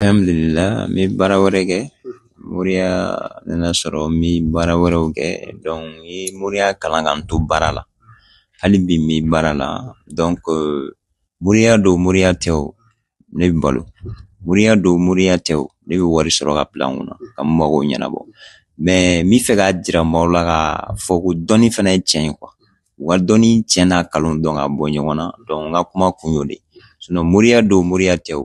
Alhamdulillah n bɛ baara wɛrɛ kɛ moriya nana sɔrɔ n bɛ baara wɛrɛw kɛ donc n ye moriya kalan ka n to baara la hali bi n bɛ baara la donc moriya don moriya tɛ o ne bɛ balo moriya don moriya tɛ o ne bɛ wari sɔrɔ ka bila n kunna ka n mago ɲɛnabɔ mais n bɛ fɛ k'a jira maaw la k'a fɔ ko dɔnni fana ye tiɲɛ ye quoi u ka dɔnni tiɲɛ n'a kalon dɔn ka bɔ ɲɔgɔn na donc n ka kuma kun y'o de ye sinon moriya don moriya tɛ o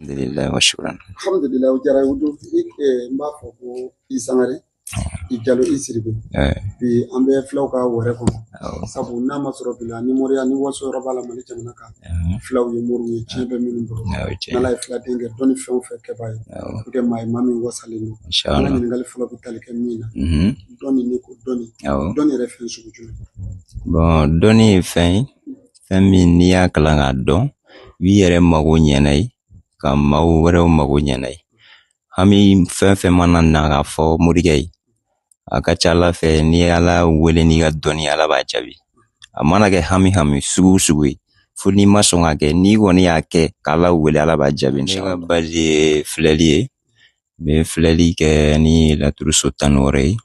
alhamdulillah wa shukran alhamdulillah o diyara o don n b'a fɔ ko i sangare i jalo i sidibe bi an bɛ filaw ka wɛrɛ kɔnɔ sabu n'a ma sɔrɔ bi la ni moriya ni waso yɔrɔ b'a la mali jamana kan filaw ye moriw ye tiɲɛ bɛ minnu bolo n'ala ye filaden kɛ dɔnni fɛn o fɛn kɛbaa ye o kɛ maa ye maa min wasalen don an ka ɲininkali fɔlɔ bɛ tali kɛ min na dɔnni ni ko dɔnni dɔnni yɛrɛ fɛn sugu jumɛn bon dɔnni ye fɛn ye fɛn min n'i y'a kalan k'a dɔn i b'i yɛrɛ mago ɲɛ n'a ye ka maaw wɛrɛw mago ɲɛ n'a ye hami fɛn fɛn mana na k'a fɔ morikɛ ye a ka ca ala fɛ n'i ye ala wele n'i ka dɔnni ala b'a jaabi a mana kɛ hami hami sugu sugu ye fo n'i ma sɔn k'a kɛ n'i kɔni y'a kɛ k'ala wele ala b'a jaabi inshallah ne ka base ye filɛli ye n bɛ filɛli kɛ ni laturu so tan ni wɔɔrɔ ye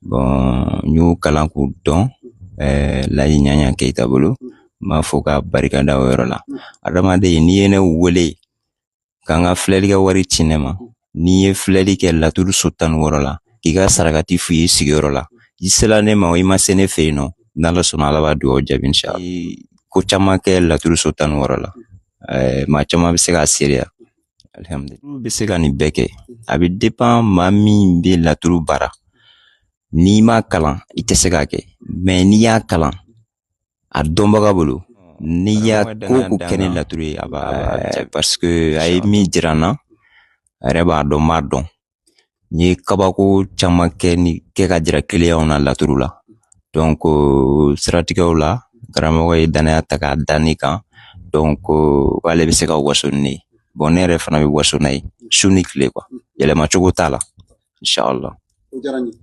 bon n y'o kalan k'o dɔn laji yaya keyita bolo n b'a fɔ ka barika da o yɔrɔ la adamaden n'i ye ne wele ka n ka filɛli kɛ wari ci ne ma ni n ye filɛli kɛ laturu so tan ni wɔɔrɔ la k'i ka sarakati f'i ye sigiyɔrɔ la i sela ne ma o i ma se ne fɛ yen o n'ala sɔnna ala b'a dugawu jaabi inshallah ko caman kɛ laturu so tan ni wɔɔrɔ la maa caman bɛ se k'a seereya alhamdulillah a bɛ se ka nin bɛɛ kɛ a bɛ dépend maa min bɛ laturu baara n'i ma kalan i tɛ se k'a kɛ mais n'i y'a kalan a dɔnbaga bolo n'i y'a ko ko kɛ ni laturu ye a b'a jaabi parce que a ye min jira n na a yɛrɛ b'a dɔn n b'a dɔn n ye kabako caman kɛ ni kɛ k'a jira kiliyanw na laturu la donc siratigɛw la karamɔgɔ ye danaya ta k'a da ne kan donc k'ale bɛ se ka waso ni ne ye bon ne yɛrɛ fana bɛ waso n'a ye su ni tile quoi yɛlɛma cogo t'a la inshallah o diyara n ye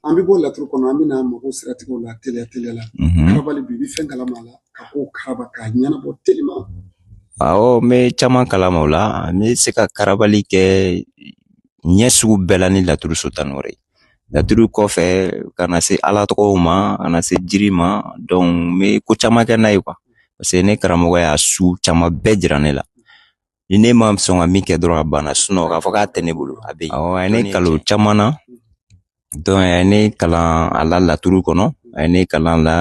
an bɛ bɔ laturu kɔnɔ an bɛna mago siratigɛw la teliya teliya la karabali bi i bɛ fɛn kalama a la ka ko karaba k'a ɲɛnabɔ teliman Awɔ n bɛ caman kalama o la n bɛ se ka karabali kɛ ɲɛ sugu bɛɛ la ni laturu so tan ni wɔɔrɔ ye laturu kɔfɛ ka na se ala tɔgɔw ma ka na se jiri ma n bɛ ko caman kɛ n'a ye quoi parce que ne karamɔgɔ y'a su caman bɛɛ jira ne la ni ne ma sɔn ka min kɛ dɔrɔn a banna sinon k'a fɔ k'a tɛ ne bolo a bɛ yen awɔ a ye ne kalan caman na donc a ye ne kalan a la laturu kɔnɔ a ye ne kalan la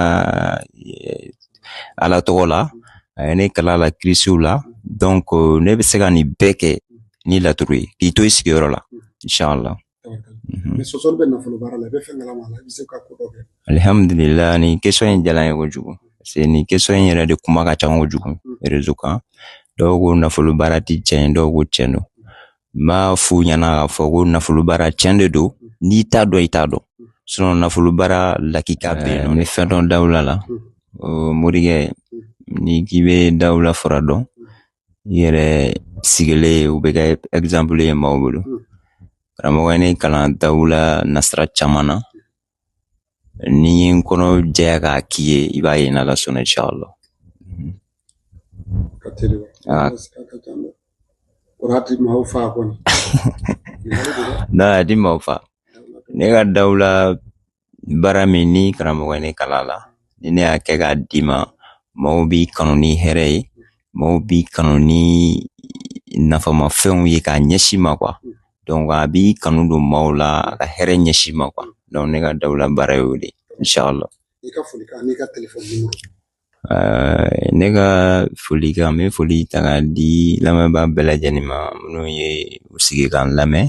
ala tɔgɔ la a ye ne kalan la kirisiw la donc ne bɛ se ka nin bɛɛ kɛ ni laturu ye k'i to i sigiyɔrɔ la inshallah mhm. sɔsɔli bɛ nafolo baara la i bɛ fɛn kalama a la i bɛ se ka ko dɔ kɛ alihamudulila nin question in diyara n ye kojugu parce que nin question in yɛrɛ de kuma ka ca kojugu mhm. réseau kan dɔw ko nafolo baara tɛ cɛn ye dɔw ko cɛn don n b'a f'u ɲɛna k'a fɔ ko nafolo baara tiɲɛ de don n'i t'a dɔn i t'a dɔn sinon nafolo baara lakika bɛ yen nɔ ni fɛn dɔn dawula la morikɛ n'i k'i bɛ dawula fura dɔn i yɛrɛ sigilen o bɛ kɛ exemple ye maaw bolo karamɔgɔ ye ne kalan dawula nasira caman na Ni n ye n kɔnɔ jɛya k'a k'i ye i b'a ye n'ala sɔnna inshallah di maaw fa ne ka dawula baara min ni karamɔgɔ ye ne kalan la ni ne y'a kɛ k'a d'i ma maaw b'i kanu ni hɛrɛ ye Maaw b'i kanu ni nafama fɛnw ye k'a ɲɛsin i ma quoi donc a b'i kanu don maaw la a ka hɛrɛ ɲɛsin i ma quoi donc ne ka dawula baara y'o de inshallah i ka folikan n'i ka telefɔni nimoro eh, ne ka folikan n bɛ foli ta k'a di lamɛnbaa bɛɛ lajɛlen ma minnu ye u sigi k'an lamɛn